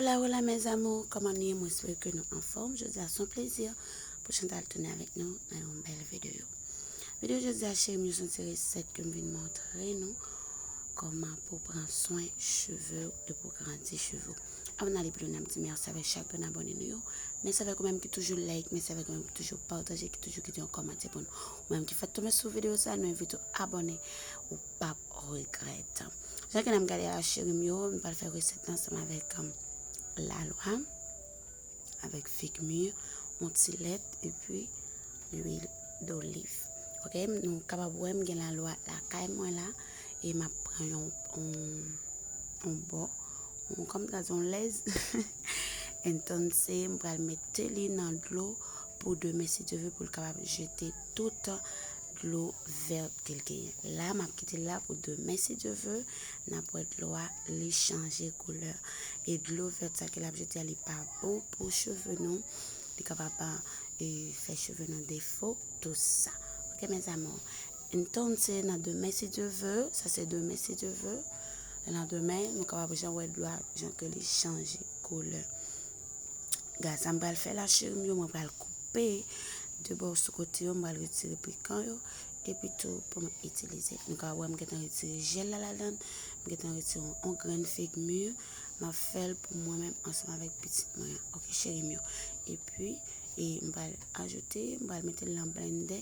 Hola hola mes amours, koman nou ye mwen swè ke nou anfòm, jodi a son plezi pou Chantal tounen avèk nou nan yon bèl videyo. Videyo jodi a cheri mwen son ti resèt ke m vin montre nou koman pou pran swen cheve ou e pou grandi cheve ou. Avan nale pi lwen nap di mèsi avèk chak grenn abòne nou yo, mèsi avèk ou menm ki toujou like, mèsi avèk ou menm ki toujou pataje, ki toujou kite yon kòmantè pou nou. Mwen ki fèk tonbe sou video sa nou envite w abone ou pap regrèt. Jan ke nan gade a cheri m yo nou pral fè resèt la ansanm avèk lalwa avèk fig mi yon ti lèt epi lwil doliv ok nou kapab wè m gen lalwa lakay mwen la. e m ap pran yon yon bò yon kòm sa di yon lèz entonse m pral mete li nan dlo pou demen si Dye ve pou l kapab jete tout dlo vèt ke l genyen. La m ap kite l la pou demen si Dye ve n ap wè dlo a li chanje koulè e dlo vèt sa ke l ap jete a li pa bon pou cheve nou li kapab fè cheve nou defo tout sa ok mes amours. Entonse nan demen si Dye ve, sa se demen si Dye ve, nan demen nou kapab jan wè dlo a jan ke li chanje koulè. Gad sa m pral fè la cheri m yo, mwen pral koupe de bò sou kote yo, m pral retire pikan yo epi tou pou m itilize. Nou ka wè m gentan retire jèl la ladan, m gentan retire yon grenn fig mur, m ap fè l pou mwen menm ansanm avèk pitit mwen an. Ok cheri m yo. Epi e m pral ajoute, m pral mete l nan blendè.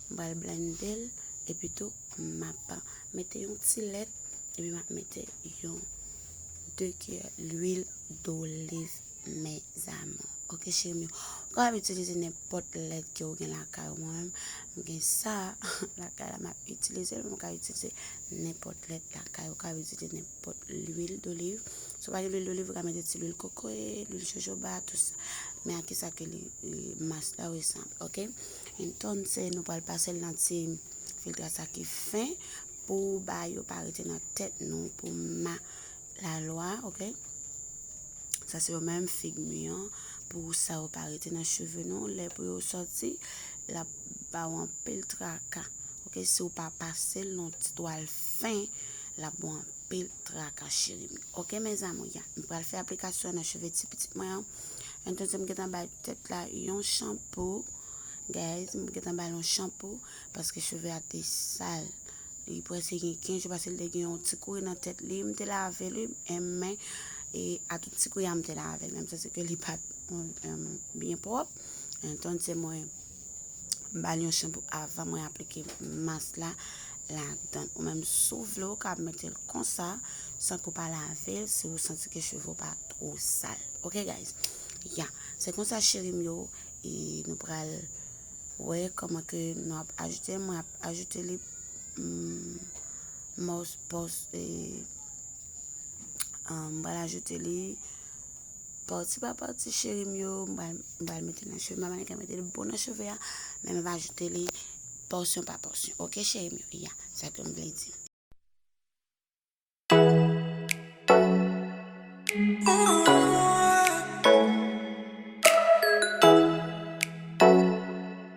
m pral blende l epi tou map mete yon ti lèt epi map mete yon 2 kiyè lwil doliv mezanmi ok cheri m yo ou kapab itilize nenpòt lèt ke ou gen lakay ou mwen menm m gen sa lakay la map itilize l men ou ka itilize nenpòt lèt lakay ou kapab itilize nenpòt lwil doliv si ou pa gen lwil doliv ou ka mete ti lwil kokoye lwil jojoba tout sa men a kisa ke li mas la ou e sanble ok. Clinton se nou pral pasel nan ti filtre sa ki fen pou ba yo pa rete nan tèt nou pou ma la lwa ok sa se yo menm fig mi an pou sa yo pa rete nan cheve nou lè pou yo soti lap ba ou anpil traka ok si ou pa pasel nan ti twal fen lap ba ou anpil traka cheri m ok mes amour ya m pral fè aplikasyon nan cheve ti pitit mwen an. An tan se m gentan bay tèt la yon chanpo. Guys, m gentan bay yon chanpo paske cheve a te sal. Li prese gen 15 jou paske li te gen yon ti kouri nan tèt li. M te lave li, men e a tout ti kouri a m te lave l. Menm sa se ke li pa t byen pwòp. An tan se mwen. M ba l yon chanpou avan mwen aplike mas la ladan l. Ou menm si w vle ou ka mete l konsa san ke w pa lave l si ou santi ke cheve w pa two sal. Ok guys. Ya. Se konsa cheri m yo e nou pral wè kòman ke nou ap ajoute. Mwen ap ajoute li mòspòs e m pral ajoute li. Parti pa parti cheri m yo m pral mete nan cheve m mama nika metel bon nan cheve a men map ajoute li pòsyon pa pòsyon ok cheri m yo ya sa kem vle di.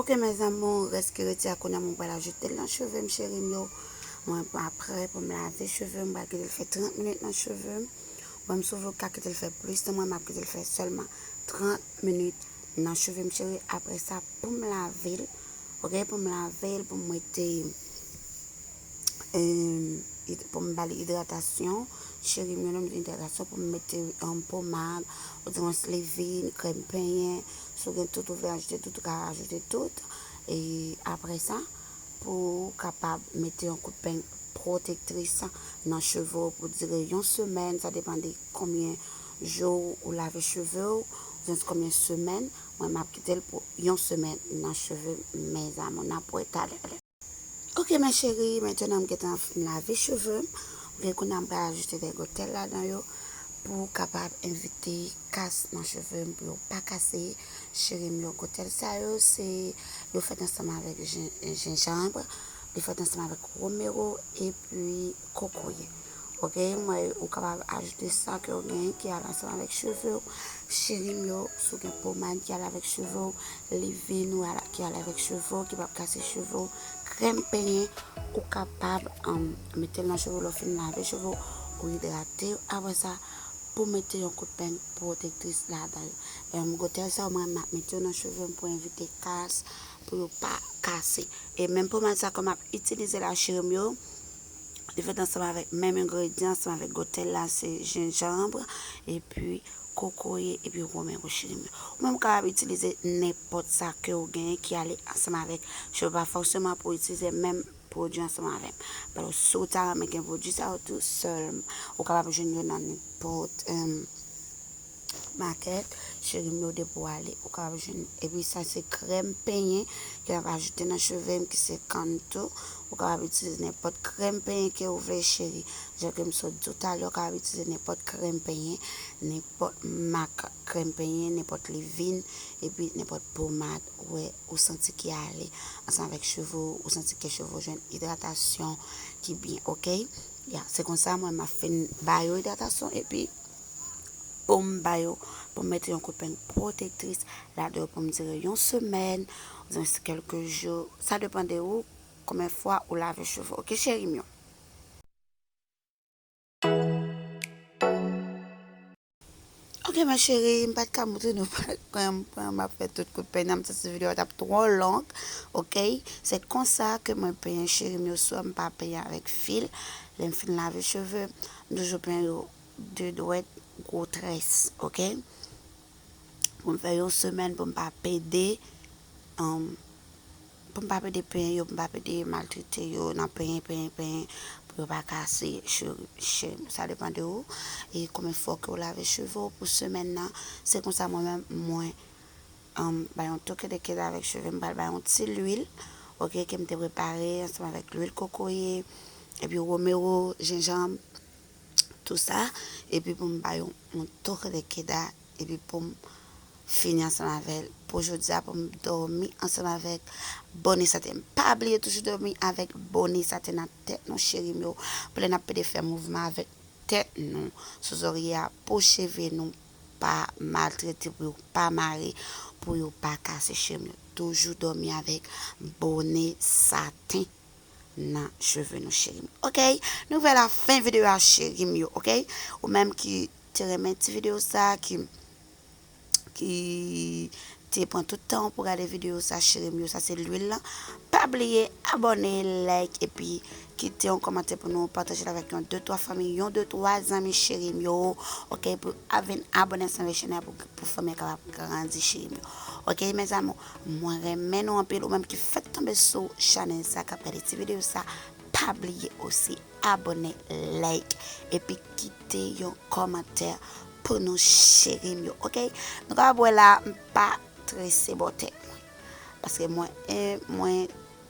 Ok mes amours res ki rete a kounya mwen pral ajoutel nan chevem cherim yo mwen apre poum lave chevem mwen pral kitel fè 30 minutes nan chevem banm sou vlog ka kitel fè plus nan mwen map kitel fè selman 30 minutes nan chevem cherim apre sa poum lavel ok poum lavel poum mete pou m bali idratasyon cheri m yo lè m di idratasyon pou m mete pomad oudyèmwens levin krèm penyen si w gen tout ou vle ajoute tout ou ka ajoute tout e apre sa pou w kapab mete yon kout peny pwotektris nan cheve w pou dire yon semèn sa depan de konbyen jou ou lave cheve w oudynwens konbyen semèn mwen m ap kite l pou yon semèn nan cheve m mezanmi n ap wè talè. Ok ma chérie maintenant m gentan fin lave cheveux m ok kounya m pral ajoute vergotel ladan yo pou kapab evite kas nan cheveux m pou yo pa kase chérie m vergotel sa yo se yo fèt ansanm avèk jenjanbre li fèt ansanm avèk romero epi kokoye. Ok mwen ou kapab ajoute sa ke ou gen ki al ansanm avèk cheve ou cherim yo si ou gen pomad ki al avèk cheve ou livin ou al ki al avèk cheve ou ki pap kase cheve ou krèm penyen ou kapab um, mete l nan cheve ou lè ou fin lave cheve ou ou idrate yo apre sa pou mete yon kout peng pwotektris ladan yo um gotèl sa yo mwen map mete yo nan cheve m pou evite kas pou yo pa kase e menm pomad sa ke map itilize la cherim yo Li fèt ansanm avèk menm engredyan ansanm avèk gòtèl la se jenjanb epi kokoye epi women wochirim. Ou menm kapab itilize nenpòt sa ke ou genyen ki ale ansanm avèk cheve pa fòseman pou itilize menm pwodui ansanm avèm. Alò si ou ta renmen gen pwodui sa yo tou sèlman ou kapab jwenn yo nan nenpòt Makèt cherim yo depi w ale ou kap jwenn epi sa se krèm penyen ke nap ajoute nan cheve m ki se kann tou ou kapab itilize nenpòt krèm penyen ke ou vle cheri jan ke m sot di w talè ou kapab itilize nenpòt krèm penyen nenpòt mak krèm penyen nenpòt livin epi nenpòt pomad ou wè ou santi ki ale ansanm avèk cheve w ou santi ke cheve w jwenn idratasyon ki byen ok ya se konsa mwen map fin ba yo idratasyon epi. pou m ba yo, pou m mete yon kout peng pwotektris ladan yo pou m dire yon semèn, oubyen se kèlke jou, sa depan de ou konbyen fwa ou lave cheve w ok cheri m yo. Ok ma cheri m pat ka montre nou kman map fè tout kout peny nan m santi video a tap twò long ok se konsa ke mwen penyen cheri m yo swa m pa penyen avèk fil lè m fin lave cheve m toujou penyen yo 2 dwèt gwo très ok pou m fè yon semèn pou m pa pede pou m pa pede penyen yo pou m pa pede maltrete yo nan penyen penyen penyen pou yo pa kase cheveux m sa depan de ou e konbyen fwa ke ou lave cheve ou pou semèn nan se konsa mwen menm mwen bay yon toke de kèt avèk cheve m pral bay yon ti lwil ok ke m te prepare ansanm avèk lwil kokoye epi romero jenjanm tou sa, epi pou m bay yon toke de keda, epi pou m fini ansanm avè l pou jodi a, pou m dòmi ansanm avèk bone sante. Pa bliye toujou dòmi avèk bone sante nan tèt nou cheri m yo, pou lè n ap pede fè mouvman avèk tèt nou sou zòrye a, pou cheve nou pa maltrete, pou yo pa mare, pou yo pa kase cheri m yo. Toujou dòmi avèk bone sante. nan cheve nou cherim ok nou vè la fen video a cherim yo ok ou menm ki te renmen ti video sa ki ki te pran tout tan pou gade video sa cherim yo sa se l'huile lan pa bliye abone like epi kite yon komante pou nou pataje la vek yon 2 3 fanmi yon 2 3 zanmi cherim yo ok pou avin abone san vechene pou fanmi ka grandi cherim yo ok mes amour Mwen renmen nou anpil ou menm ki fèk tonbe sou chanèl sa kap gade ti video sa pa bliye osi abone like epi kite yon kòmantè pou nou cherim yo ok nou kapab wè la m pa trese bò tèt mwen paske mwen mwen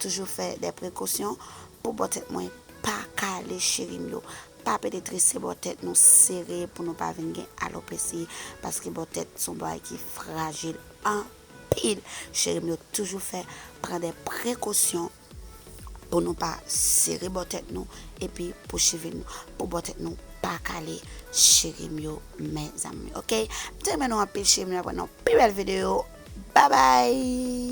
toujou fè de prekosyon pou bò tèt mwen pa kale cherim yo pa pede trese bò tèt nou sere pou nou pa vin gen alopesi paske bò tèt son bagay ki frajil an. anpil cherim yo toujou fè pran dè prekosyon pou nou pa sere bò tèt nou epi pou cheve nou pou bò tèt nou pa kale cherim yo mèzanmi ok mte renmen nou anpil cherim yo nan pi bèl video babay.